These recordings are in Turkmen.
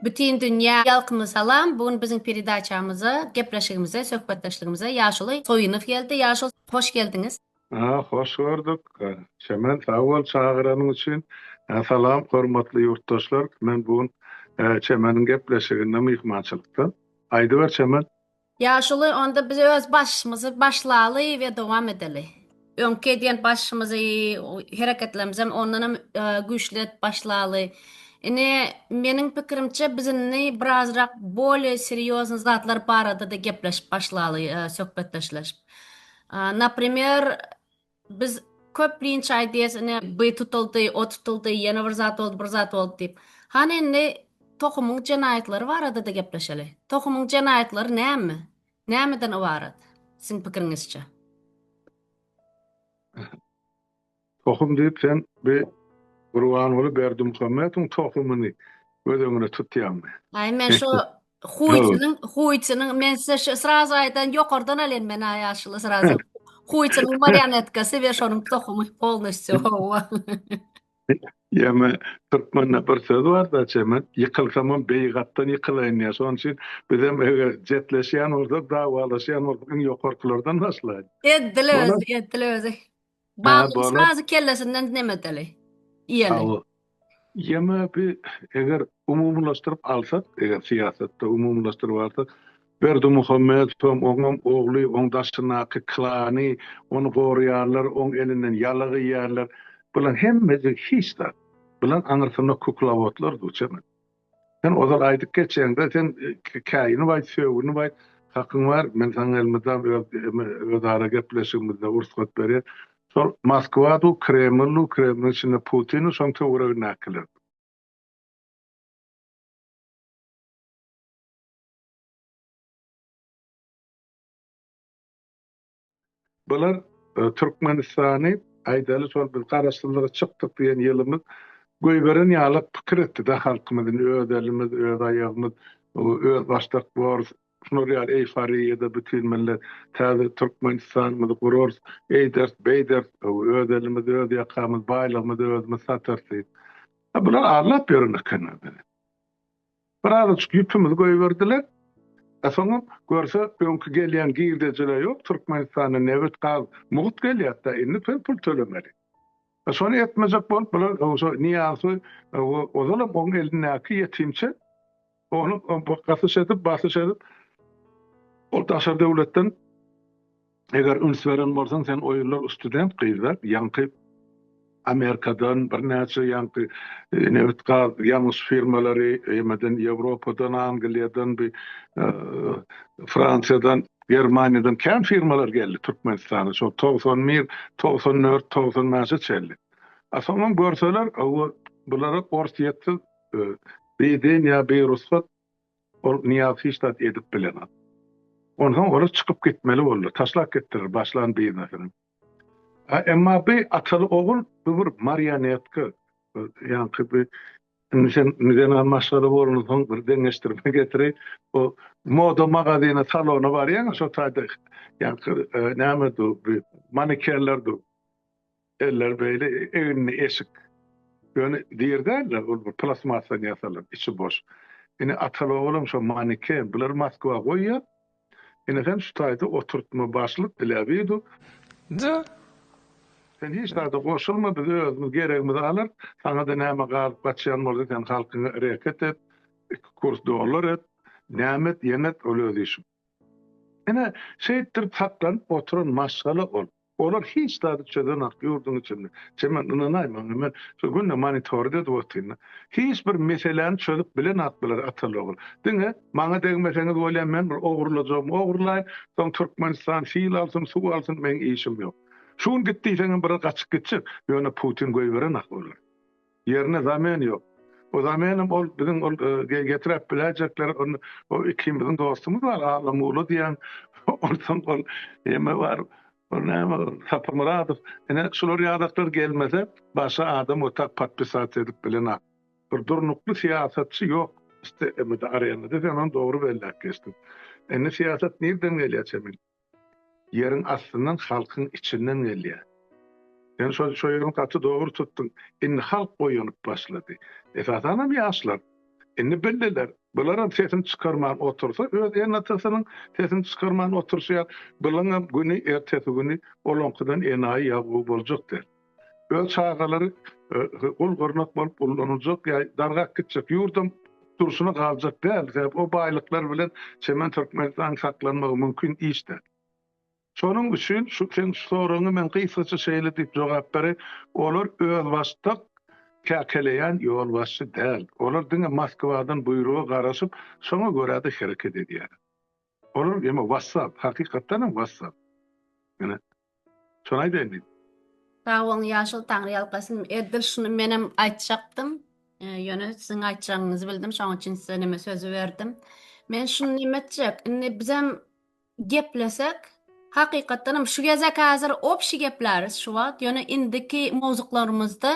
Bütin dünýä ýalkymly salam! Bu gün biziň peredaçamyza, gepleşigimize, söhbetdeşligimize Ýaşuly Soýunow geldi. Ýaşul, hoş geldiňiz! Hoş gördük. Çemen, sag bol çagyranyň üçin. Salam, hormatly ýurtdaşlar! Men bu gün Çemeniň gepleşiginde myhmançylykda. Aýdyber, Çemen! Ýaşuly onda biz öz başymyzy başlaly we dowam edeli. Öňki edýän başymyzy, hereketlerimizem ondan hem güýçli edip başlaly. Ine, meniň pikirimçe biz indi birazrak bolye serýozny zatlar barada-da gepleşip başlaly, söhbetdeşleşip. Naprimer, Biz köplenç aýdýas, ine, by tutuldy, o tutuldy, ýene bir zat boldy, bir zat boldy diýip. Hany indi tohumyň jenaýatlary barada-da gepleşeli. Tohumyň jenaýatlary näme? Nämeden ybarat, siziň pikiriňizçe? Tohum diýip sen bi Gurbanguly Berdimuhamedowyň tohumyny göz öňüne tutýaňmy? Aý, men şo Huýçynyň, huýçynyň, men size şu sraz aýdan ýokardan alýan men aý ýaşuly srazy. Huýçynyň marionetkasy we şonuň tohumy polnostýu howwa. Ýeme türkmende bir söz bar da çemet, ýykylsamam beýik atdan ýykylaýyn diýýär. Şonuň üçin bizem eger jetleşýän bolsak, dawalaşýan bolsak iň ýokarkylardan başlaýyn. Edil özi, edil özi. Bag uçmazy kellesinden nemedeli, iýeli. Ýeme bi eger umumylaşdyryp alsak, eger syýasatda umumylaşdyryp alsak, Berdimuhamedowam, oňam ogly, oň daşyndaky klany ony goraýarlar, oň elinden ýalyk iýýärler. Bular hemmesi hiç zat. Bular aňyrsynda kuklawotlar duçe men. Sen ozal aýdyp geçýäňdä sen käýinip aýt sögünip aýt hakyň bar men saňa elmydam öz ara gepleşigimizde ursgat berýän şol Moskwa du Kreml du Kremliň içinde Putin du şoň töweregindäkiler. Bular e, Türkmenistany aýdaly şol biz garaşsyzlyga çykdyk diýen ýylymyz göýberen ýaly pikir etdi-de halkymyz, öz elimiz, öz aýagymyz, öz başdak borus, şular ýaly eýforiýada bütin millet täze Türkmenistanymyzy gurarys, eýderis, beýderis, öz elimiz, öz ýakamyz, baýlygymyzy özümiz satarys diýip. Bular aldap ýören ekenler bizi. Bir azajyk ýüpümizi goýberdiler. Soňam görse öňki gelýän girdejile ýok, Türkmenistana nebit, gaz, mugt gelýärda indi biz pul tölemeli. Şony etmejek bolup bular oňşo Niýazy we ozalam oň elindäki ýetimçe ony gasyş edip, basyş edip ol daşary döwletden Eger üns beren bolsaň sen oýunlar student gyzlar ýaňky Amerikadan birnäçe ýaňky nebit gaz ýangyç firmalary emeden Ýewropadan Angliýadan bi Fransiýadan Germaniýadan kän firmalar geldi Türkmenistana şol togsan bir togsan dört togsan bäşe çenli a soňam görseler owo bulara orsyýetsiz biýden ýa birugsat Ol Nyýaz hiç zat edip bilenok. Onsoň olar çykyp gitmeli boldy. Taşlap gitdiler başlan biznesini. A, emma bi ataly ogul bu bir marionetka. Ýaňky bi indi sen zenan maşgala bolansoň bir deňeşdirme getiri. Bu moda magazyna, salona barýaňa şo taýda ýaňky e, näme dur, bi manekenler dur. Eller beýle eginli eşik. Ýöne der däl-de, ol bir plastmassadan ýasalan, içi boş. Ine, ataly-oglam şo maneken. Bulary Moskwa goýýar. Ine, sen şu taýda oturtma, başlyk Bilebidov. Ja. Sen hiç zada goşulma, biz özümiz geregimizi alarys. Saňa-da näme galyp gaçýan bolsa, sen halkyňa reket et, iki kurs dollar et, näme et, ýene et, ol öz işiň. Ine, şeýtdirip saklanyp oturan maşgala ol. Olar hiç zady çözenok ýurduň içinde. Sen men ynanaýmaň men şu günde monitory edip otyryn. Hiç bir meseläni çözüp bilenok bular ataly ogul. Diňe maňa degmeseňiz bolýa men bir ogurlajagymy ogurlaýyn soň Türkmenistan sil alsyn suw alsyn meň işim ýok. Şu gün git diýseňem biri gaçyp gitjek ýöne Putin goýberenak olary. Ýerine zamen ýok. O zamenem ol biziň ol getirep biläjekler ol o ikimiziň dostumyz bar Allamulla diýen onsoň ol eme bar ol näme Sapamyradow ine şular ýadaklar gelmese başga adam otak podpisat edip bilenok. Bir durnukly syýasatçy ýok emede arenada sen ony dogry belläp geçdiň. Indi syýasat nirden gelýä çemeli. Ýeriň astyndan halkyň içinden gelýär. Sen şo şo ýerini gaty dogry tutdyň. Indi halk oýanyp başlady. Esasanam ýaşlar. Indi bildiler. Bularam sesini çykarman otursa öz ene-atasynyň sesini çykarman oturşýar. Bulaňam güni ertesi güni olaňkydan enaýy ýabgu boljak der. Öz çagalary gul-gyrnak bolup ullanyljak ýa dargap gitjek ýurdam durşuna galjak däl, sebäbi o baýlyklar bilen çemen Türkmenistanyň saklanmagy mümkin iş däl. Şonuň üçin şu seň şu soragyňa men gysgaça şeýle diýip jogap bereýin, olar özbaşdak käkeleýän ýolbaşçy däl. Olar diňe Moskwadan buýruga garaşyp, şoňa görä-de hereket edýärler. Olar eme wassap, hakykatdan hem wassap. Ene, şony aýdaýyn diýdim. Sag boluň ýaşuly taňry ýalkasyn. Edil şuny menem aýtjakdym. Ýöne siziň aýtjagyňyzy bildim şoň üçin size neme sözi berdim. Men şuny neme etjek indi bizem geplesek hakykatdan hem şu gezek häzir obşi gepläris şu wagt ýöne indiki mowzuklarymyzda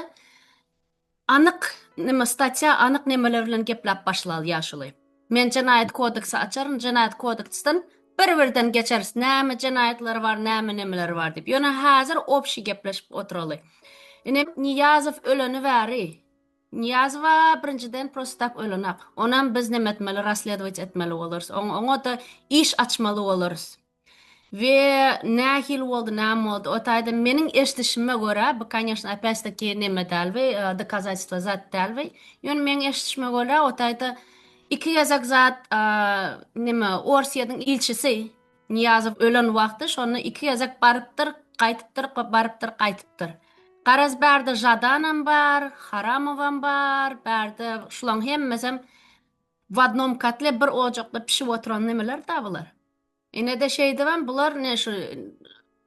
Anyk neme statýa anyk nemeler bilen geplap başlaly ýaşuly. Men jenaýat kodeksi açaryn jenaýat kodeksden bir birden geçeris näme jenaýatlary bar näme nemeleri bar diýip ýöne häzir obşi gepleşip oturaly. Ine Niýazow öleni bäri Niýazowa birinjiden prosto tak ölenak onam biz neme etmeli rasledowat etmeli bolarys oňa oňada iş açmaly bolarys. We nähili boldy näme boldy o taýdan meniň eşdişime görä bu koneşno opýat taki neme däl we dokazatelstwo zat däl we ýöne meniň eşdişime görä o taýda iki gezek zat neme orsyýediň ilçisi niýazow ölen wagty şonda iki gezek barypdyr gaýtypdyr barypdyr gaýtypdyr garaz bärde žadanam bar haramowam bar bärde şulaň hemmesem w odnom kotle bir ojakda pişip oturan nemeler da bular Inede şeýdibem bular ne şu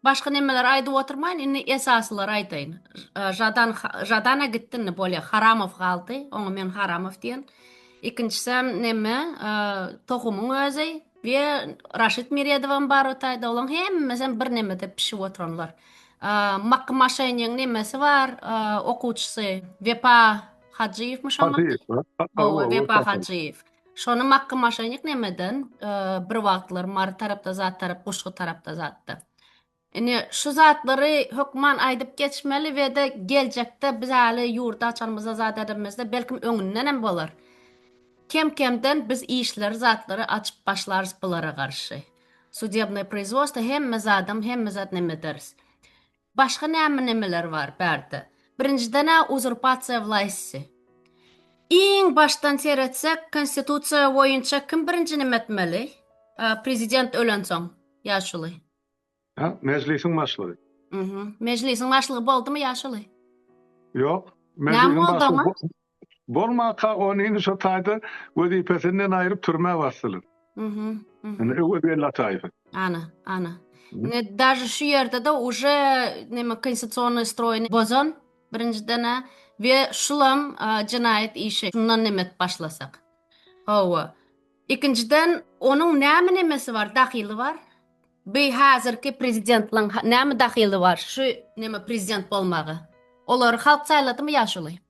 başga nemeler aýdyp oturmaýyn indi esasylary aýtaýyn. Žadan Žadana gitdi indi bolýa Haramow galdy. Oňa men Haramow diýen. Ikinjisem neme tohumyň özi we Raşid Miredowam bar o taýda. Olaň hemmesem bir nemede pişip oturanlar. Makky maşenyň nemesi bar, okuwçysy Wepa Hajyýewmi şoňa? Hajyýew. Wepa Hajyýew. Şony makka maşenik nemeden bir wagtlar mary tarapda zat tarap guşgy tarapda zatda. Ine şu zatlary hökman aýdyp geçmeli we de geljekde biz äli ýurdy açanymyzda zat edemizde belkim öňünden hem bolar. Kem kemden biz işleri zatlary açyp başlarys bulara garşy. Sudebnoý proizwosta hemme zadam hemme zat nemederis. Başga näme-nämeler bar bärde? Birinjiden-ä uzurpasiýa wlaýsty. Iň başdan seretsek, konstitusiýa boýunça kim birinji neme etmeli? Prezident ölensoň, ýaşuly. Hä, Mejlisiň başlygy. Mhmm. Mejlisiň başlygy boldumy ýaşuly? Ýok. Mejlisiň başlygy. Bolmaka ony indi şo taýda wezipesinden aýryp türmä basdylar. Mhm. Mhm. Öwez Bellatyýewi. Ana, ana. Ne daže şu ýerde-de uje neme konstitusionnyý stroýny bozan birinjiden-ä we şulam jenaýat işi şundan neme edip başlasak. Hawa. Ikinjiden onuň näme nemesi bar, dahyly bar? Bi häzirki prezidentliň näme dahyly bar şu neme prezident bolmaga? Olary halk saýladymy ýa şuly?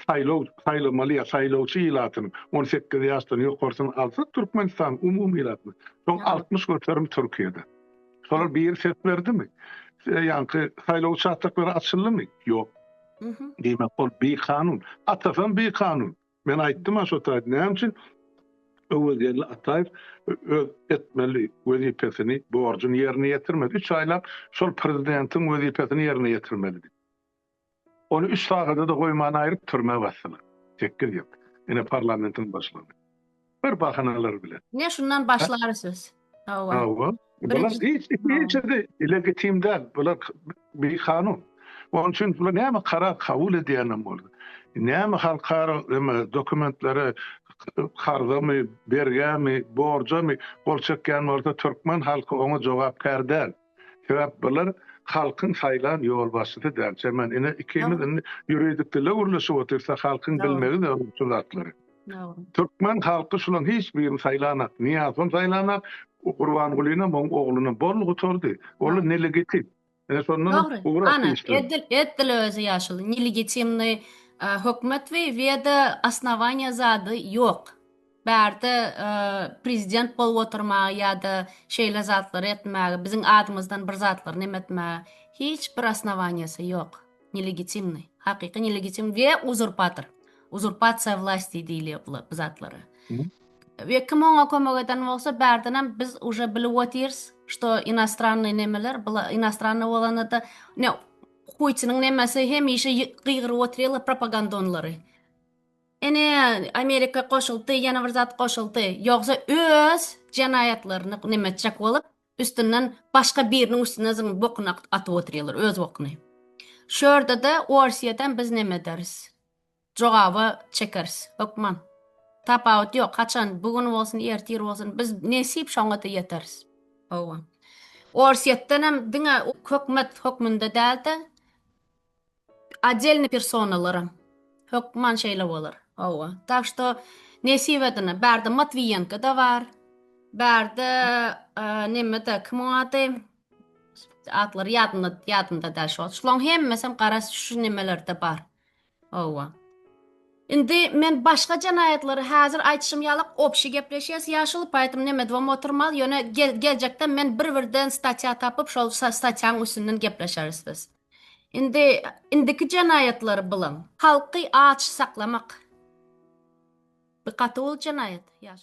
Saýlaw saýlamaly ýa saýlawçy ilatyny on sekiz ýaşdan ýokarsyny alsa Türkmenistan umumy ilatyny soň altmyş göterim Türkiýede şolar biri ses berdimi ýaňky saýlaw uçastoklary açyldymy ýok diýmek ol bi kanun atasam bi kanun men aýtdym aşo taýda näme üçin Öwezgeldi Ataýew öz etmeli wezipesini borjuny ýerine ýetirmedi üç aýlap şol prezidentiň wezipesini ýerine ýetirmelidi. Ony üç sagada-da goýman aýryp türmä basdylar. Sekkiz ýyl. Ine parlamentiň başlygy. Bir bahanalar bilen. Ine şundan başlary söz. Hawa. Hawa. Bular hiç ikisi legitim däl. Bular bikanun. Onuň üçin bular näme karar kabul edýänem bolsa, näme halkara näme dokumentlere karzamy, bergämi, borjamy gol çekýän bolsa türkmen halky oňa jogapkär däl. Sebäp bular halkyň saýlan ýolbaşçysy däl. Çemen ine ikimiz indi ýuridik dilde gürleşip otyrsa halkyň bilmegi zerur şu zatlary. Türkmen halky şulaň hiç birini saýlanak. Niýazam saýlanak, Gurbangulyna muň ogluna bol gutardy. Olar nelegitim. Ine şondan ugur atyşdy. Edil edil özi ýaşuly nelegitimni hökümet we we-de osnowaniýa zady ýok. Bärde prezident bolup oturmagy ýa-da şeýle zatlary etmäge, biziň adymyzdan bir zatlary neme etmäge hiç bir osnowaniýasy ýok. Nelegitimnyý. Hakyky nelegitim we uzurpator. Uzurpasiýa wlasti diýilýär bu bu zatlara. We kim oňa kömek eden bolsa, bärdenem biz uje bilip otyrys, şto inostrannyý nemeler, bula inostrannyý bolanda-da, ne Putiniň nemesi hemişe gygyryp otyrlar propagandonlary. Ine Amerika goşuldy ýene bir zat goşuldy ýogsa öz jenaýatlaryny neme etjek bolup üstünden başga biriniň üstüne zyň bokuny atyp otyrýarlar öz bokuny. Şu ýerdede Orsiýadan biz neme ederis? Jogaba çekeris hökman. Tapawut ýok haçan bu gün bolsun ertir bolsun biz nesip şoňada ýeteris. Hawa. Orsiýetdenem diňe hökmet hökmünde dälde Отdelny personalaram hökman şeýle bolar. Hawa. Tak što nesip edine. Bärde Matwiýenko-da bar. Bärde neme-de, kim oň ady? Atlary ýadymda, ýadymda däl şo. Şulaň hemmesem gara şu nemelerde bar. Hawa. Indi men başga jenaýatlary häzir aýtşym ýalak obşi gepleşýäs ýaşuly, poetom neme dwam oturmaz, ýöne geljekde men bir-birden statýa tapyp şol statýaň üstünden gepleşeris biz. Indi indiki jenaýatlary bilaň. Halky aç saklamak bi gaty uly jenaýat ýaş.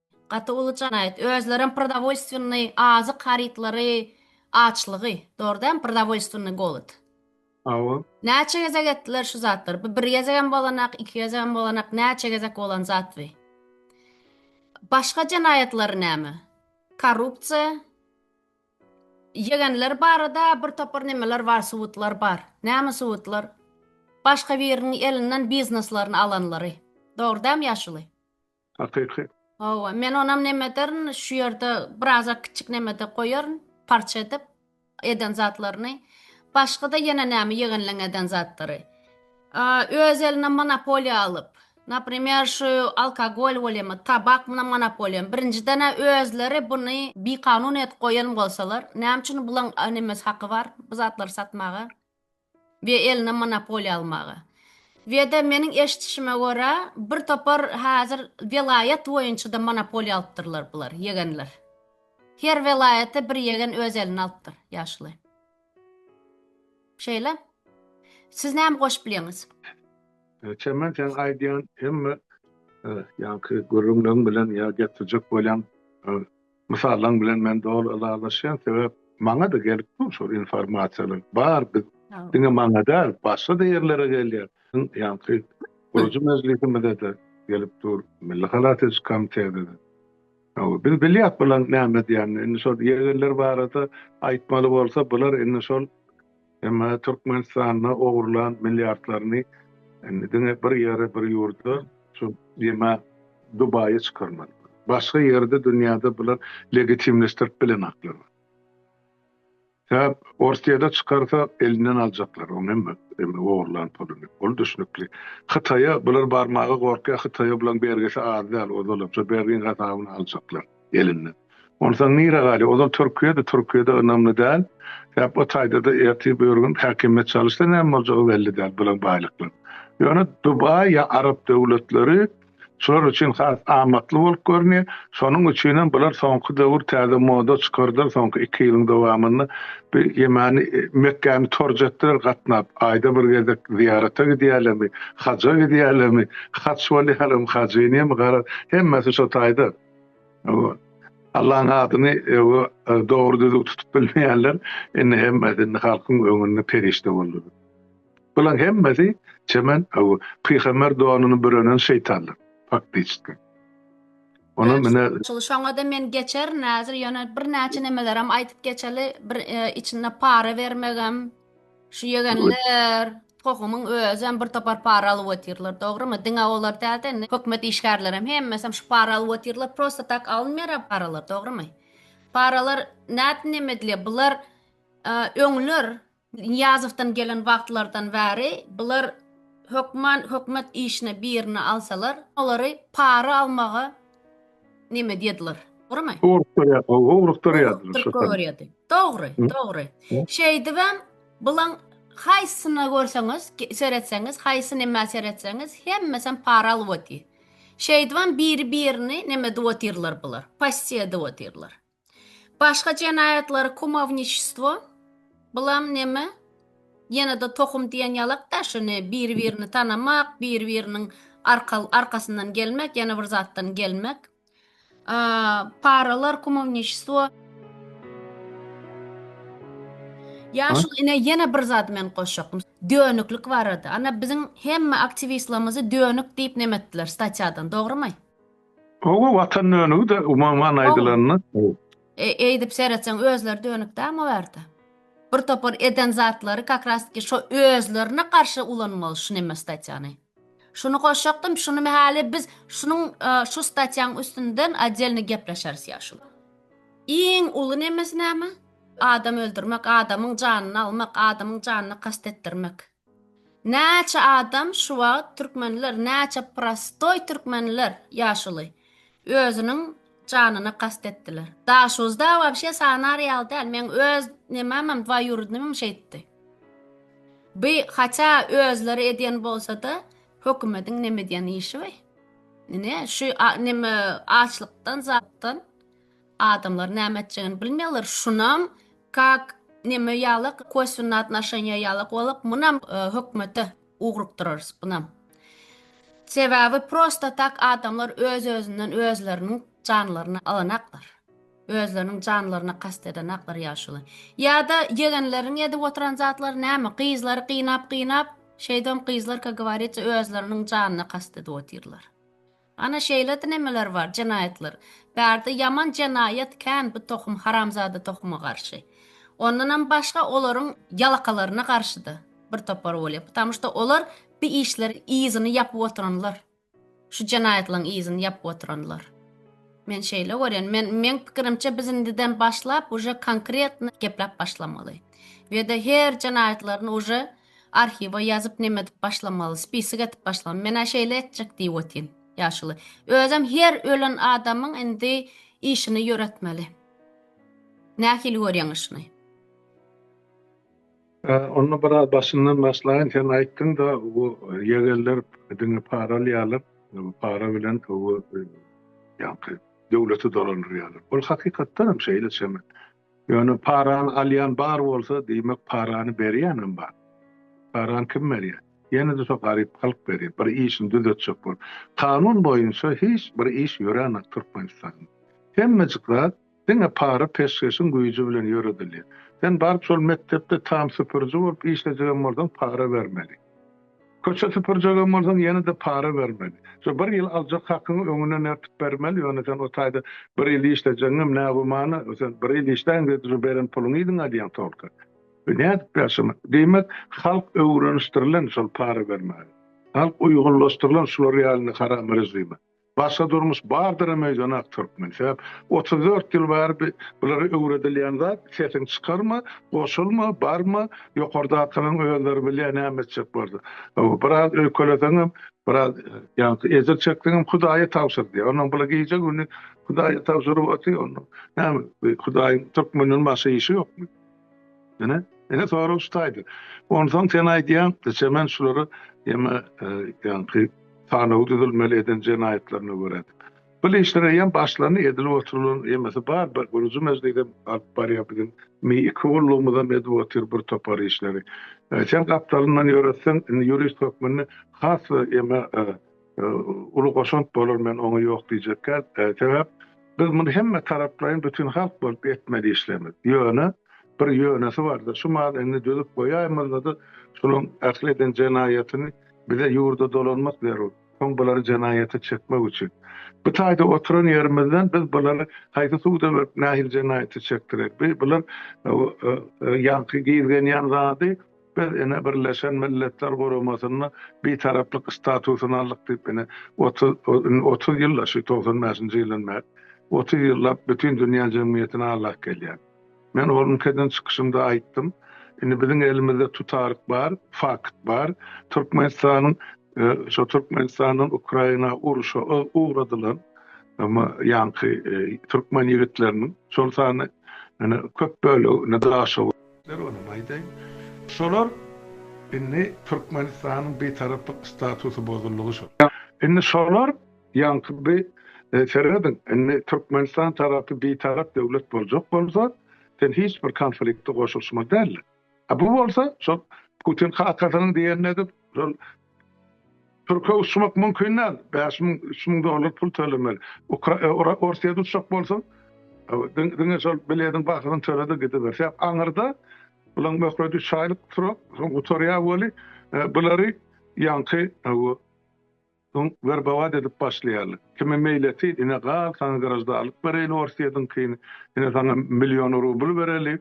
Gaty uly janaýat. Özlerem prodawolstwennyi azyk harytlary açlygy. Dogry däm prodawolstwennyi golod. Hawa. Näçe gezek etdiler şu zatlar. Bu bir gezegem bolanak, iki gezegem bolanak, näçe gezek bolan zat bi. Başga janaýatlary näme? Korrupsiýa. Ýegenler barada bir topar nemeler bar, subutlar bar. Näme subutlar? Başga biriniň elinden bizneslaryny alanlary. Dogry däm ýaşuly. Hakyky. Hawa, men onam neme ederin, şu ýerde birazak kiçik nemede goýaryn, parça edip eden zatlaryny. Başga-da ýene näme ýegenleň eden zatlary. Öz eline monopoliýa alyp, naprimer, şu alkogol bolýamy, tabak munam monopoliýamy. Birinjiden-ä özleri buny bikanun edip goýan bolsalar, näme üçin bulaň nemesi haky bar bu zatlary satmaga? we eline monopoliýa almaga. We-de meniň eşitişime görä, bir topar häzir welaýat boýunça-da monopoliýa alypdyrlar bular, ýegenler. Her welaýaty bir ýegen öz eline alypdyr, ýaşuly. Şeýle. Siz näme goşup bilýäňiz? Çemen seň aýdýan hemme ýaňky gürrüňleň bilen ýa getirjek bolýan Mysallaň bilen men doly ylalaşýan sebäp maňada gelip dur şol informasiýalar bar biz diňe maňa däl başgada ýerlere gelýär biziň ýaňky gurujy mejlisimizede gelip dur milli halas ediş komitetede biz bilýäs bulaň näme edýänini indi şol ýegerler barada aýtmaly bolsa bular indi şol Emma Türkmenistanda ogurlan milliardlaryny indi diňe bir ýere, bir ýurda, şu ýeme Dubaýa çykarmaly. Başga ýerde dünýäde bular legitimleşdirip bilenaklar. Sebäp Orsýede çykarsa elinden aljaklar oň hemme ogurlan puluny. Ol düşnükli. Hytaýa bular barmaga gorkýar, Hytaýa bulaň bergisi az däl, ozalam şu bergiň gazabyny aljaklar. elinde. Onsaň nire galýar? Ozal Türkiýede, Türkiýede ynamly däl. Sebäp o taýda-da ertir bir gün häkimiýet çalyşsa näme boljagy belli däl bulaň baýlyklaryň. Ýöne Dubaý ýa arap döwletleri şular üçin has amatly bolup görünýär. Şonuň üçin hem bular soňky döwür täze moda çykardylar soňky iki ýylyň dowamynda. Bir ýemani Mekgäni torj etdiler gatnap. Aýda bir gezek zyýarata gidýärlermi, haja gidýärlermi, haç bolýarmy, hajynýamy garaz hemmesi şo taýda. Allaň adyny öňe dogry düzüw tutup bilmeýänler indi hemmesi indi halkyň öňünde perişde boldular. Bulaň hemmesi çemen öňe pygamber donuny bürenen şeýtanlar. Faktiçki. Onam mine şoňada men geçerin häzir ýöne bir näçe nemelerem aýdyp geçeli bir içinde para bermegem. Şu ýegenler tohumyň özem bir topar para alyp otyrlar, dogrymy? Diňe olar dälde, indi hökümet işgärlerem hemmesem şu para alyp otyrlar, prosta tak alynmaýar a paralar, dogrymy? Paralar nädip neme edilýär? Bular öňler Niýazowdan gelen wagtlardan bäri bular hökman hökümet işine birini alsalar, olary para almaga neme diýediler, dogrumy? Gowrup durýar, gowrup durýar. Gowrup görýärdi. Dogry, dogry. Şeýdibem bulan haýsyna görseňiz, seretseňiz, haýsy neme seretseňiz, hemmesem para alyp otyr. Şeýdibem biri-birini neme edip otyrlar bular, passiýa edip otyrlar. Başga jenaýatlary kumowniçestvo, bulam neme, ýene-de tohum diýen ýalak daşyny, bir-birini tanamak, bir-biriniň arka arkasyndan gelmek, ýene bir zatdan gelmek. Paralar kumowniçestvo. Ýaşuly ine ýene bir zat men goşjakdym. Dönüklik barada. Ana biziň hemme aktiwistlerimizi dönük diýip nemetdiler statýadan, dogrumy? Oba watan dönügi de umuman aýdylanda. E, eýdip seretseň özleri dönük däl o ýerde. Bir topar eden zatlary kakrastki şo özlerine garşy ulanmaly şu neme statýany. Şuny goşjakdym, şuny mähäli biz şunuň e, şu statýaň üstünden oddelny gepleşeris ýa şu. Iň uly nemesi näme? Adam öldürmek, adamyň janyny almak, adamyň janyna kast etdirmek. Näçe adam şu wagt türkmenler näçe prostoý türkmenler ýaşuly özüniň janyna kast etdiler daşuzda wabşe sanar ýaly däl meň öz nememem dwaýurudnymym şeýtdi by haça özleri edýän bolsada hökümediň nemedýän işi by ine şu neme açlykdan zatdan Adamlar näme etjegini bilmeýärler şunam kak neme ýalak koswennä atnaşenýa ýalak bolak munam hökmete ugrukdyrarys bunam sebäbi prosta tak adamlar öz özünden özleriniň janlaryny alanaklar özleriniň janlaryna kast edenaklar ýaşuly ýada ýegenleriň edip oturan zatlary näme gyzlary gynap gynap şeýdem gyzlar ka gowariýçe özleriniň janyna kast edip otyrlar. Ana şeýlede nemeler bar jenaýatlar. Bärde ýaman jenaýat kän bu tohum haramzada tohuma garşy. Ondanam başga olaryň ýalakalaryna garşyda bir topar bolýar. Putamu şda olar bi işleri yzyny ýapyp oturanlar. Şu jenaýatlaň yzyny ýapyp oturanlar. Men şeýle görýän. Men meň pikirimçe biz indiden başlap uje konkretno gepläp başlamaly. Weda her jenaýatlaryny uje Arhiwa ýazyp neme edip başlamaly, spisik edip başlamaly. Men-ä şeýle etjek diýip otyryn. Ýaşuly. Özem her ölen adamyň indi işini ýöretmeli. Nähili görýäňiz şuny? Onda biraz başyndan başlaýyn. Sen aýtdyň-da, bu ýegenler diňe para alýarlar. Para bilen bu ýaňky döwleti dolandyrýarlar. Ol hakykatdanam şeýle çenli. Ýöne parany alýan bar bolsa, diýmek parany berýänem bar. Parany kim berýär? Ýene-de şo garyp halk berýär. Bir işini düzetjek bolup. Kanun boýunça hiç bir iş ýöränok Türkmenistanda. Hemmejik zat diňe para peşgeşiň güýji bilen ýöredilýär. Sen baryp şol mekdepde tam süpüriji bolup işlejegem bolsaň para bermeli. Köçe süpürjegem bolsaň ýene-de para bermeli. Şu bir ýyl aljak hakyňy öňünden ertip bermeli, ýöne sen o taýda bir ýyl işlejegiňem ne gümana, sen bir ýyl işläýiň diýdi, şu beren puluňy yzyňa alýaň tolka. Nädip ýaşamak? Diýmek, halk öwrenişdirilen şol para bermäge. Halk uýgunlaşdyrylan şular ýaly indi haram režime. Başga durmuş bardyram öýden ak türkmen sebäp otuz dört ýyl bäri bi bulara öwredilýän zat sesiň çykarma goşulma barma ýokardakylaň özleri bilýä näme etjek bardy ow biraz öýkeleseňem biraz ýaňky ejir çekseňem hudaýa tabşyr diýä onnoň bula gije güni hudaýa tabşyryp otyr onnoň näme bi hudaýyň türkmenden başga işi ýokmy. Ine, ine sorag şu taýda. Onsoň sen aýdýaň, geçemen şulary hem ýaňky sanawy düzülmeli eden jenaýatlaryna görä. Bu işler eýýäm başlany, edilip oturylan hemmesi bar. Bir guruji mejlis hem alyp barýar biziň iki gullugymyz hem edip otyr bir topar işleri. Sen gapdalyndan ýöretseň, indi ýurist hökmünde has eme uly goşant bolar men oňa ýok diýjekkä sebäp biz muny hemme taraplaýyn bütin halk bolup etmeli işlerimiz ýöne bir ýönesi barda şu maly indi düzüp goýaýmazlady şunuň ähli eden jenaýatyny bize ýurda dolanmak zerur soň bulary jenaýata çekmek üçin bu taýda oturan ýerimizden biz bulary haýsy suda berip nähili jenaýata çekdireli bular ýaňky gizgenýän zady Biz ine Birleşen Milletler Guramasynda Bitaraplyk statusyny aldyk diýip ine otuz indi otuz ýylda şu togsan bäşinji ýyldan bäri otuz ýyllap bütin dünýä jemgyýetine aglak gelýän. Men ol ülkeden çykyşymda aýtdym. Indi biziň elimizde tutaryk bar, fakt bar. Türkmenistanyň şo Türkmenistandan Ukraina urşa ugradylan ýaňky türkmen ýigitleriniň şol sanda ine köp bölegi ine Daşoguz, Sebäpleri olam aýdaýyn. Şolar indi Türkmenistanyň Bitaraplyk statusu bozuldy şol. Indi şolar ýaňky bi serediň indi Türkmenistan tarapy Bitarap döwlet boljak bolsa sen hiç bir konflikte goşulşmaly däldiň. Bu bolsa şol Putin kakasynyň diýenini edip şol Türkiýe uçmak mümkin däl. Bäş müň, üç müň dollar pul tölemeli. Ukra- Orsýet uçjak bolsaň, diň- diňe şol bilediň bahasyny töle-de gidiber. Sebäp aňyrda bulaň möhleti üç aýlyk turar, soň gutarýar weli, bulary ýaňky bu soň werbować edip başlaýarlar. Kime meýletin, ine gal, saňa graždanlyk bereýin orsýediňkini, ine saňa million rubl bereli.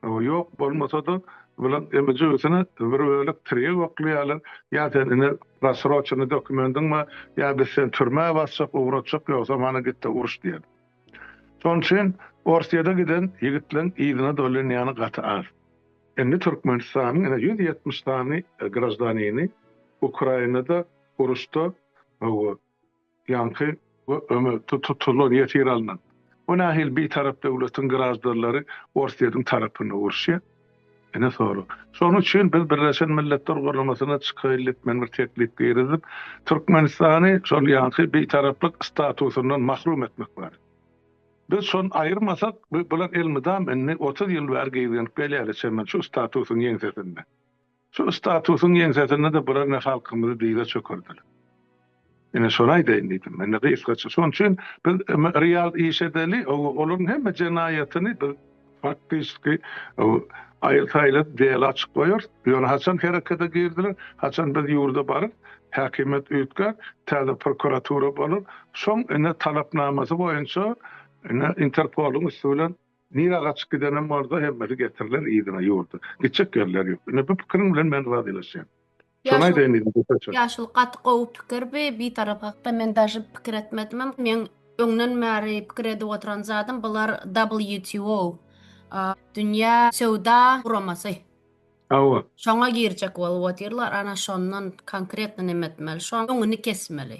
Ýok bolmasa-da, bular emizügisine bir bölek tirýek oklaýarlar, ýa sen ine rassroçenny dokumendiň bar, ýa biz seni türmä basjak, ugratjak, ýogsam hany git-de uruş diýen. Şonuň üçin Orsýete giden ýigitleriň yzyna dolýan ýany gaty az. Indi Türkmenistanyň ine ýüz ýetmiş sany graždanini Ukrainada uruşda Ýaňky we ömür tutulan ýesir alnan we nähili bitarap döwletiň graždarlary Orsýetiň tarapyny uruşýar? Ine sorag. Şonuň üçin biz Birleşen Milletler Guramasyna çykaýlyk men bir teklip girizip, Türkmenistany şol ýaňky bitaraplyk statusyndan mahrum etmek barada. Biz şony aýyrmasak, bular elmydam indi otuz ýyl bäri gizlenip gelýärler çemen şu statusyň ýeňsesinde. Şol statusyň ýeňsesinde-de bular ine halkymyzy dyza çökerdiler. Ine şony aýdaýyn diýdim men-de gysgaça. Şonuň üçin biz real iş edeli, olaryň hemme jenaýatyny biz faktiki aýyl-saýyl diýeli açyp goýarys. Ýöne haçan herekete girdiler, haçan biz ýurda baryp, häkimiýet üýtgär, täze prokuratura bolar, şoň ine talapnamasy boýunça ine Interpoluň üsti bilen Nira gaçyp gidenem bolsa hemmesi getiriler yzyna ýurda. Gitjek ýerler ýok. Ine bu pikiriň bilen men razylaşýan. Şony aýdaýyn diýdim gysgaça. Ýaşuly gaty gowy pikir bi bitarap hakda men daže pikir etmedimem meň öňden bäri pikir edip oturan zadym bular WTO dünýä söwda guramasy. Hawa. Şoňa girjek bolup otyrlar ana şondan konkretno neme etmeli şoň öňüni kesmeli.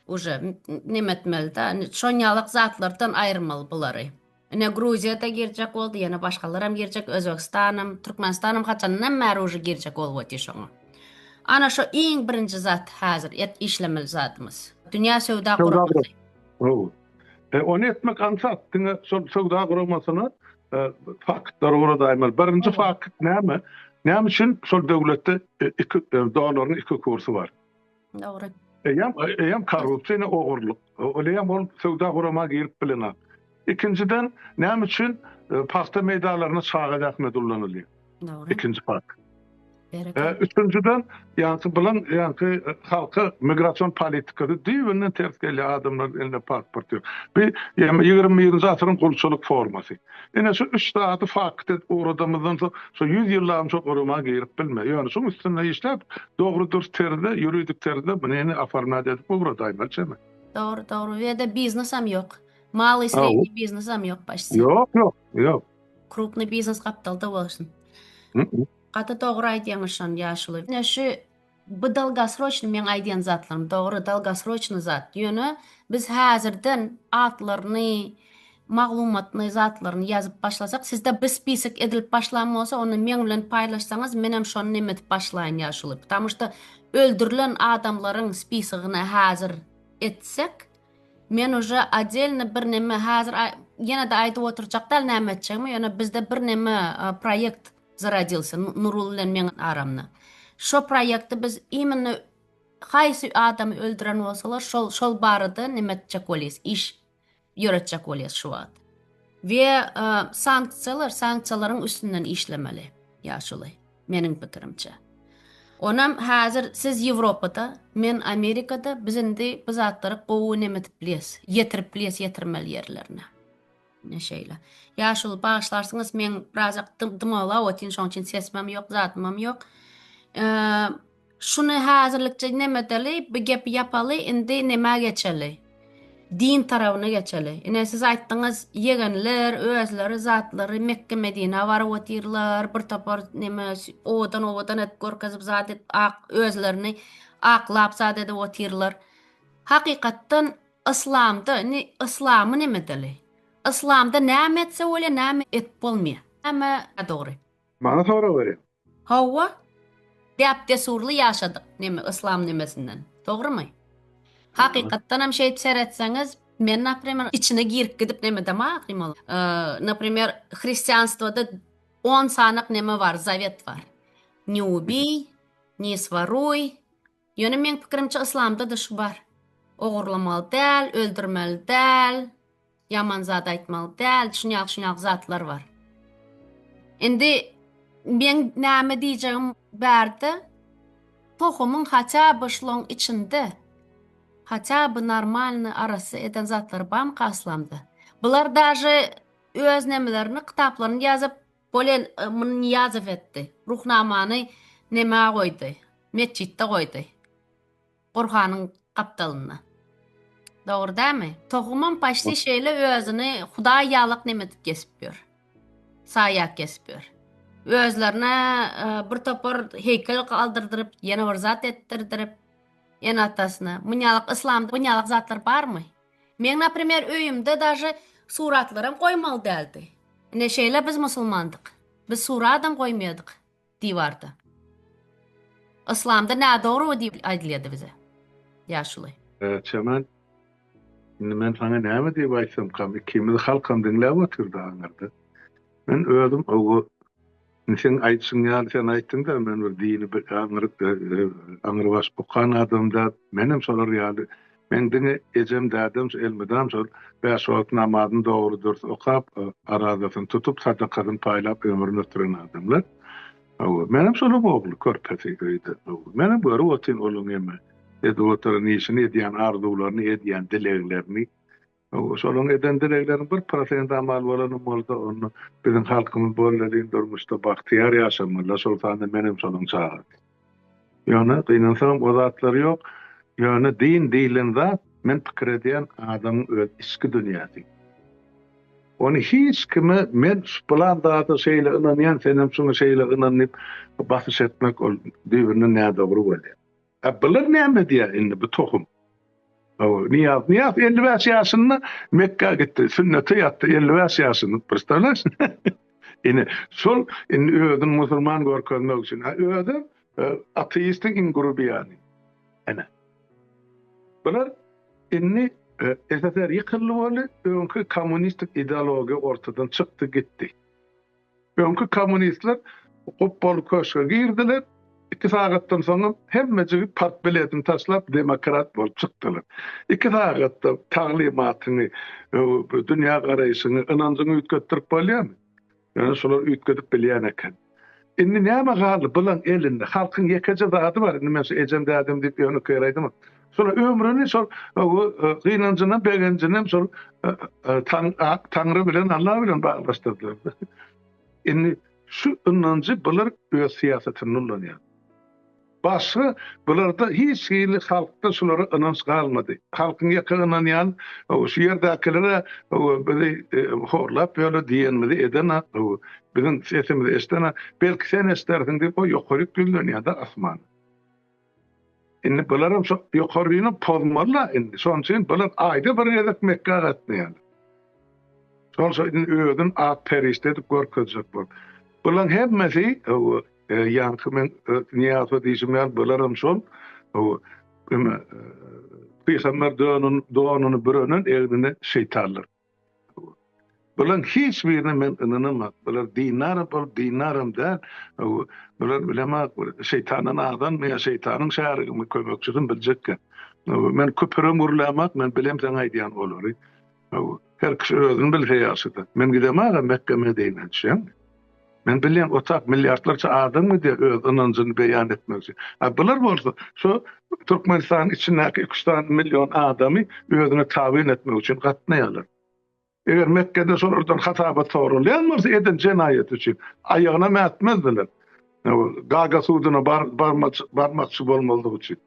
Uje neme etmeli da şonýalak zatlardan aýyrmaly bulary. Ine Gruziýada girjek boldy ýene başgalaram girjek Özbegistanam Türkmenistanam haçandan bäri uje girjek bolup otyr şoňa. Ana şo iň birinji zat häzir et işlemeli zadymyz. Dünýä söwda guramasy. Gowy. E ony etmek aňsat diňe şol söwda guramasyna e, faktlary guradaýmaly. Birinji fakt näme? Näme üçin şol döwletde e, iki e, dollaryň iki kursy bar? Dogry. Eýem, eýem korrupsiýa, ne ogurlyk. Oleýem ol söwda gurama girip bilenok. Ikinjiden, näme üçin e, pagta meýdalaryna çaga zähmet ullanylýar? Dogry. Ikinji fakt. E, üçünjiden, ýaňky bilen ýaňky e, halka migration politikasy düýbünden ters gelýär, adamlar elinde pasport ýok. Bu 21-nji asyryň gulçulyk formasy. Ine şu üç zady fakt edip ugradamyzdan soň şu ýüz ýyllabam şo gurama girip bilme. Ýöne şuň üstünde işläp dogry dürs terzde, ýuridik terzde munyny oformýat edip ugradaýmaly çeme. Dogry, dogry. Bu ýerde biznesem ýok. Malyý sredniý biznesem ýok başda. Ýok, ýok, ýok. Krupnyý biznes gapdalda bolsun. Gaty dogry aýdýaňyz şony ýaşuly. Ine şu Bu dalgasroçny meň aýdýan zatlarym dogry dalgasroçny zat ýöne biz häzirden atlaryny maglumatny zatlaryny ýazyp başlasak sizde bir spisek edilip başlan bolsa onda meň bilen paýlaşsaňyz menem şony neme edip başlaýyn ýaşuly ptamu şda öldürilen adamlaryň spisegiňi häzir etsek men uje odelny bir neme häzir ýene de aýdyp oturjak däl näme etjegimi ýöne bizde bir neme proýekt Zarodiился Nurul bilen meň aramda. Şo proýekti biz imенно haýsy adamy öldüren bolsalar şol şol barada neme etjek bolýas iş ýöretjek bolýas şu wagt. We sanksiýalar sanksiýalaryň üstünden işlemeli. Ýa şolaý meniň pikirimçe. Onam häzir siz Ýewropada men Amerikada biz indi bu zatlary gowy neme edip bilýäs ýetirip bilýäs ýetirmeli ýerlerine. Ine şeýle. Ýaşuly bagyşlarsyňyz men birazjak dymawlap otyryn şoň üçin sesimem ýok zadymam ýok. Şuny häzirlikçe nemedeli bu gepi ýapaly indi nämä geçeli. Din tarabyna geçeli. Ine siz aýtdyňyz ýegenler özleri zatlary Mekge Medinä baryp otyrlar bir topar neme owadan owadan edip görkezip zat edip ak özlerini aklap zat edip otyrlar. Hakykatdan Yslamda indi yslamyň neme dili? Yslamda näme etse bolýar näme edip bolmaýar? Näme nadogry? Maňa sorag berýäň? Hawa. Däp dessurly ýaşadyk neme yslam nemesinden. Dogrymy? Hakykatdan hem şeýdip seretseňiz men naprimer içine girip gidip neme dema aklymol. Naprimer hristianstwada on sanak neme bar zawet bar. Niubiý, niswaruý, Ýöne meň pikirimçe yslamda-da şu bar. Ogurlamaly däl, öldürmeli däl, ýaman zat aýtmaly däl, şunýaly şunýaly zatlar bar. Indi meň näme diýjegim barda tohumyň haça by şloň içinde haça by normalny arassa eden zatlary bamyka yslamda? Bular daže öz nemelerini kitaplaryny ýazyp Bolen muny Nyýazow etdi. Ruhnamany nämä goýdy? Metjitde goýdy. Gurhanyň gapdalynda. Dogry dämi? Tohumam paşti şeýle özüni hudaý ýalak näme edip kesip ýör. Saýak kesip ýör. Özlerine e, bir topar heýkel galdyrdyryp, ýene bir zat etdirdirip, ene atasyna. Munyalak yslamda munyalak zatlar barmy? Meň naprimer öýümde daže suratlaram goýmaly däldi. Ine şeýle biz musulmandyk. Biz suradam goýmaýadyk diwarda. Yslamda nädogry diýip aýdylýady bize. Ýaşuly. Çemen indi men saňa näme diýip aýtsamkam ikimiz halkam diňläp otyrdy aňyrda. Men özüm owa. Indi seň aýdyşyň ýaly sen aýtdyňda men bir dini bir aňryk aňrybaş okan adam däl. Menem şolar ýaly. Meň diňe ejem dädem şu elmydam şol bäş wagt namazyny dogry dürs okap arazasyny tutup sadakasyny paýlap ömrüni ötüren adamlar. Hawa menem şolaň ogly körpesi öýde. Menem görüp otyryn olaň hem edip oturan işini edýän arzuwlaryny edýän dileglerini. Şolaryň eden dilegleriniň bir prosenti amal bolanam bolsa, onda biziň halkymyz bolelin durmuşda bagtyýar ýaşamalylar, şol sanda men hem şolaryň çagasy. Ýöne gynansagam o zatlar ýok. Ýöne din diýlen zat, men pikir edýän adamyň öz içki dünýäsi. Ony hiç kime men şu pylan zada şeýle ynanýan, sen hem şuňa şeýle ynan diýip basyş etmek ol düýbünden nädogry bolýar. A bular näme diýýär indi bu tohum? Hawa, Niýaz, Niýaz 55 ýaşynda Mekgä gitdi, sünnete ýatdy, 55 ýaşynda, pristanaş. Ine, şol indi özüni musulman görkezmek üçin, a özi e, ateistiň iň grubiýany. Ine. Bular indi e, SSR ýykyldy boldy, öňki kommunistik ideologiýa ortadan çykdy gitdi. Öňki kommunistler gupbaly köşge girdiler, iki sagatdan soňam hemme jigit partbiletini taşlap demokrat bolup çykdylar. Iki sagatda taglymatyňy, dünýä garaýşyňy, ynanjyňy üýtgetdirip bolýarmy? Ýöne şolar üýtgedip bilýän eken. Indi näme galdy? Bulaň elinde halkyň ýekeje zady bar, indi men şu ejem-dädem diýip ýönekeýraýdymok. Şol ömrüni şol gynanjyny, begenjini hem şol Taňry bilen, Allah bilen baglaşdyrdylar. Indi şu ynanjy bular öz syýasatynda ulanýar. Başga bularda hiç hili halkda şulara ynanç galmady. Halkyň ýeke ynanýan şu ýerdäkilere bizi e, horlap ýöle diýenimizi edene, biziň sesimizi eşdene, belki sen eşdersiň diýip o ýokaryk ýüzlenýär-de asman. Indi bularam şo ýokaryny pozmaly-la indi. Şonuň üçin bular aýda bir gezek Mekgä gatnaýarlar. Şol şo indi özün ak perişde edip görkezjek bol. Bulaň hemmesi, hawa, ýaňky men Nyýaza diýşim ýaly bularam şol, hawa, pygamber donuny bürenen egnine şeýtanlar. Bularyň hiç birine men ynanamok. Bular dinara bolup, dinaram däl. Bular bilemok, bir şeýtandan adammy ýa şeýtanyň şärigimi, kömekçisimi biljek gep. Men küpürem gürlämok, men bilem seň aýdýan olary. Her kişi özüni bilse ýagşydyr. Men gidemok-a Mekge-Medinä, düşýäňmi? Men bilýän otag milliardlarça adam gidýär öz ynanjyny beýan etmek üçin. A bular bolsa şu Türkmenistanyň içindäki iki üç sany million adamy özüne tabyn etmek üçin gatnaýarlar. Eger Mekgede şolardan hasabat soralýan bolsa eden jenaýaty üçin aýagyna mätmezdiler. Gaga suduna barmakçy bolmazlyk üçin.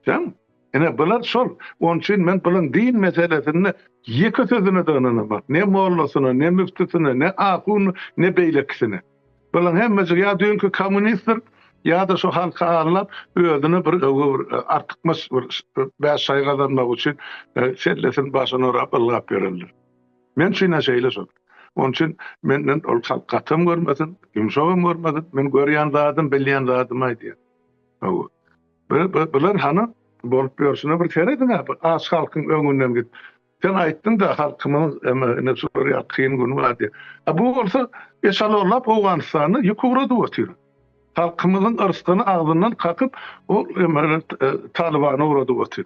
Jan, ine bular şol. Onuň üçin men bulan din meselesinde ýeke sözüne-de ynanamok. Ne mollasyna, ne müftüsine, ne ahunyna, ne beýlekisine. Bulan hemmesi ýa düýnki kommunistdir, ýa-da şu halky aldap, özüne bir öwgi, bir artykmaç, bir bäş şaý gazanmak üçin sellesini başyna orap ylgap ýörenler. Men üçin-ä şeýle şol. Onuň üçin menden ol halk gatam görmesin, ýumşagam görmesin, men görýän zadym, bilýän zadymy aýdýan. Hawa. Bular hany bolup ýörşüne bir serediň-ä, bu aç halkyň öňünden git. Sen aýtdyň-da, halkymyň indi şular ýaly kyn güni bar diýip. A bu bolsa eşalonlap Owganystana ýük ugradyp otyr. Halkymyzyň yrsgyny agzyndan kakyp, ol Talybana ugradyp otyr.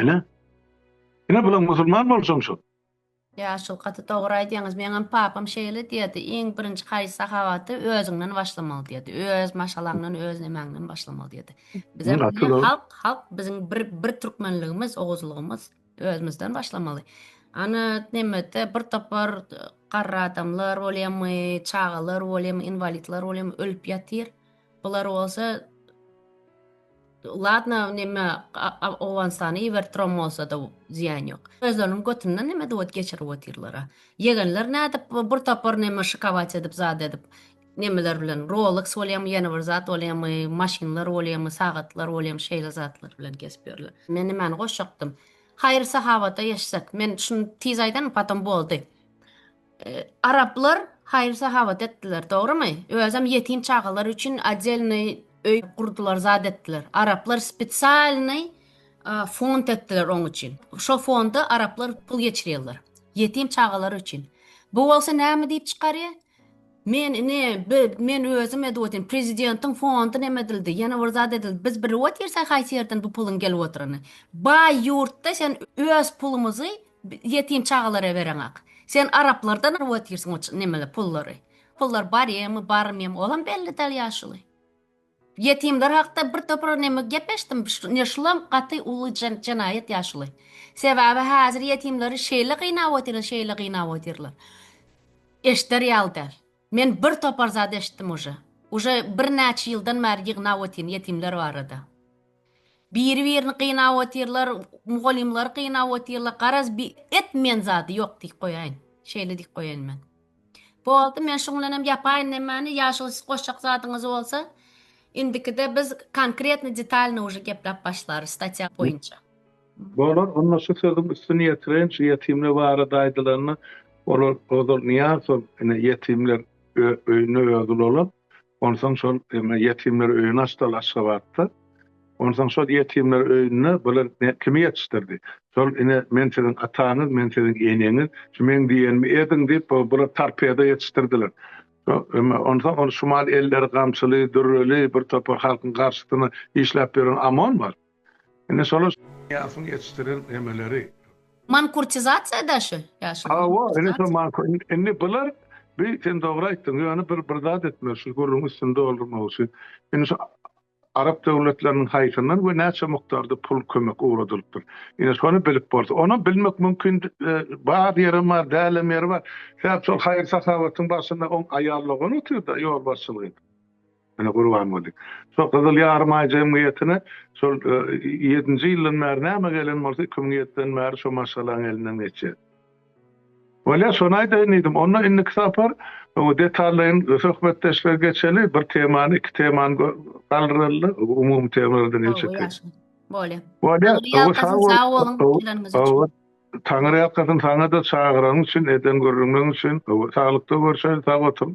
Ine. Ine bular musulman bolsaň şol. Ýaşul gaty dogry aýdýaňyz meňem papam şeýle diýerdi iň birinji haýsy sahawaty özüňden başlamaly diýerdi öz maşgalaňdan öz nemäňden başlamaly diýerdi bize halk halk biziň bir bir türkmenligimiz oguzlygymyz özümizden başlamaly ana nemede bir topar garra adamlar bolýamy çagalar bolýamy inwalidler bolýamy ölüp ýatyr Bular bolsa Ladna neme Owganystana ibertrom bolsa da ziýan ýok. Özleriniň götünden neme dowet geçirip otyrlar. Ýegenler nädip bir topar neme şikabat edip zat edip nemeler bilen Rolex bolýamy ýene bir zat bolýamy maşynlar bolýamy sagatlar bolýamy şeýle zatlar bilen gezip ýörler. Men nimäni goşjakdym. Haýyr sahabata geçsek. Men şuny tiz aýdan potom boldy. Araplar haýyr-sahawat etdiler, dogrymy? Özem ýetim çagalar üçin odelnyý öý gurdular, zat etdiler. Araplar spesialnyý fond etdiler oň üçin. Şo fonda araplar pul geçirýärler. Ýetim çagalar üçin. Bu bolsa näme diýip çykarýar? Men ine men özüm edip prezidentiň fondy näme edildi, ýene bir zat edildi. Biz bir wagt ýersek haýsy ýerden bu puluň gelip oturany. Baý ýurtda sen öz pulumyzy Ýetim çagalara bereňak. Sen araplardan alyp otyrsyň o nemeleri, pullary. Pullar barýamy, barmyýamy, olam belli däl ýaşuly. Ýetimler hakda bir topar neme gep eşitdim, ine şulam gaty uly jenaýat ýaşuly. Sebäbi häzir ýetimleri şeýle gynap otyrlar, şeýle gynap otyrlar. Eşder ýaly däl. Men bir topar zat eşitdim uje. Uje bir näçe ýyldan bäri ýygnap otyryn ýetimler barada. Biri birini gynap otyrlar, mugallymlary gynap otyrlar, garaz bi et men zady ýok diýip goýaýyn. Şeýle diýip goýaýyn men. Boldy men şuň bilenem ýapaýyn nemäni ýa şol siz goşjak zadyňyz bolsa indikide biz konkretno detalno uje gepläp başlarys statýa boýunça. Bolar, onda şu sözüň üstüni ýetireýin, şu ýetimler barada aýdylanda, olar ozal Nyýazow ine, ýetimler öýüne özi ulanyp, onsoň şol indi ýetimler öýüni açdylar Aşgabatda. Onsoň şol ýetimler öýünde bular kimi ýetişdirdi? Şol ine, men siziň ataňyz, men siziň eneňiz, şu meň diýenimi ediň diýip, bular torpedo ýetişdirdiler. Indi onsoň ol şumal elleri gamçyly, dürreli birtopar halkyň garşysyna işläp ýören OMON bar. Indi şolar Ýasyň ýetişdiren emeleri. Mankurtizasiýa da şu ýaşuly. Hawa, indi şo mankur, indi bular bi sen dogry aýtdyň, ýöne bir bir zat etmeli şu gürrüň üstüni doldurmak üçin. Indi şu arap döwletleriniň haýsyndan we näçe mukdarda pul kömek ugradylypdyr. Indi şony bilip bolsa, onam bilmek mümkin bar ýerem bar, dälem ýeri bar. Sebäp şol haýyr-sahawatyň başynda oň aýal dogany otyrda ýolbaşçylyk edip. Ene Gurbanguly. Şo Gyzyl Ýarymaý jemgyýetine şol ýedinji ýyldan bäri näme gelen bolsa, iki müň ýediden bäri şo maşgalaň elinden geçýär. Bolýar, şony aýdaýyn diýdim. Onda indiki sapar detallaýyn söhbetdeşlige geçeli, bir temany, iki temany galdyraly-da, umumy temalardan el çekeýin. Bolýar. Bolýar. Sag boluň geleniňiz üçin. Taňyrýalkasyn saňa-da, çagyranyň üçin, eden gürrüňiň üçin. Hawa, saglykda görşeli, sag oturyň.